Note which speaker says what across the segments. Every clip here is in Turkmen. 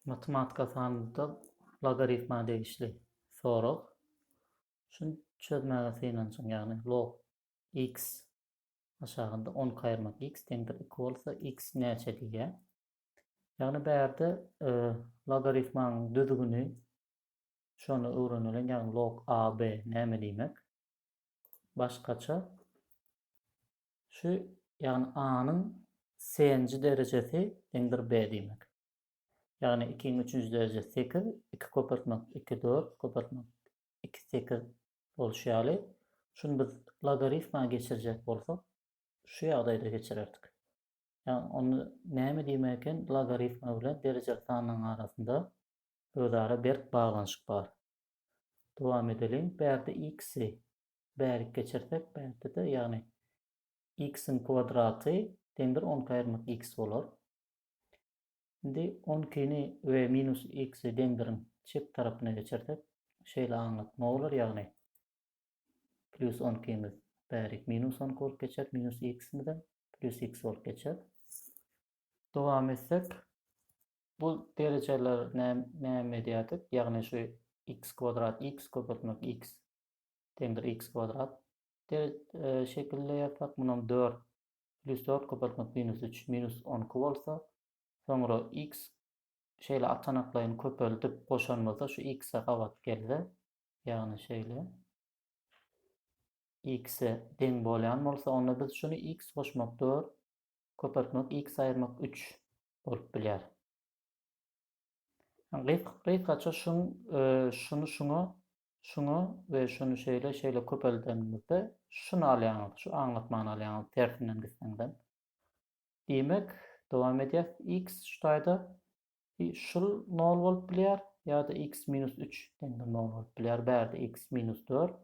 Speaker 1: Matematika sanlyda logaritma degişli sorag. Şuny çözmäge synanjyň, ýagny log x aşagynda on iki aýyrmak x deňdir iki bolsa x näçe diýýär. Ýagny bärde logaritmanyň düzgüni şony öwreneliň, ýagny log ab näme diýmek. Başgaça Şu, ýagny A-nyň C-nji derejesi deňdir B diýmek. Ýagny ikiň üçünji derejesi sekiz, iki köpeltmek iki, dört, köpeltmek iki, sekiz bolşy ýaly, şuny biz logarifma geçirjek bolsak, şu ýagdaýda geçirerdik. Ýagny onda näme diýmek eken, logarifma bilen derejeli sanlaryň arasynda özara berk baglanyşyk bar. Dowam edeliň, bärde x-i bärik geçirsek, bärde-de, ýagny x-iň kwadraty deňdir on iki aýyrmak x bolar. Indi on ikini we minus x-i deňdiriň çep tarapyna geçirsek, şeýle aňlatma bolar, ýagny plyus on ikimiz bärik minus on iki bolup geçer, minus x-imizem plyus x bolup geçer. Dowam etsek, bu derejeler näme edýärdik? Ýagny şu x kwadrat x köpeltmek x deňdir x kwadrat der şekilde ýazsak, munam dört plis dört köpeltmek minus üç minus on iki bolsa, soňra x şeýle atanaklaýyn köpeldip goşanymyzda şu x-e gabat gelse, ýagny şeýle x-e deň bolýan bolsa, onda biz şuny x goşmak dört köpeltmek x aýyrmak üç bolup bilýär. Gysgaça şuň şuny şuňa Şuňa we şuny şeýle şeýle köpeldenimizde şuny alýaňyz, şu aňlatmany alýaňyz tersinden gitseňizem. Diýmek, dowam edýäs, x şu taýda i şul nol bolup bilýär ýa-da x minus üç deňdir nol bolup bilýär, bärde x minus dört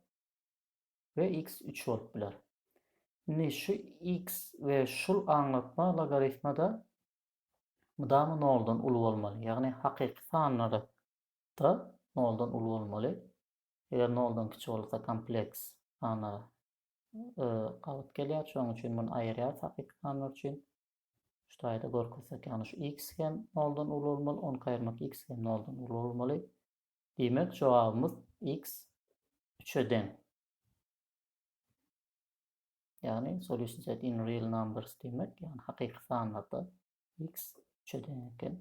Speaker 1: we x üç bolup biler. Indi şu x we şul aňlatma logarifmada mydama noldan uly bolmaly, ýagny hakyky sanlary Da, noldan uly bolmaly. Eger noldan kiçi bolsa kompleks sanlar gabat gelýär. Şonuň üçin muny aýyrýarys hakyky sanlar üçin. Şu taýda görkezsek, ýagny şu x hem noldan uly bolmaly, 10 aýyrmak x hem noldan uly bolmaly. Diýmek, jogabymyz x 3-e deň. Ýagny solution set in real numbers diýmek, ýagny hakyky sanlarda x 3-e deň eken.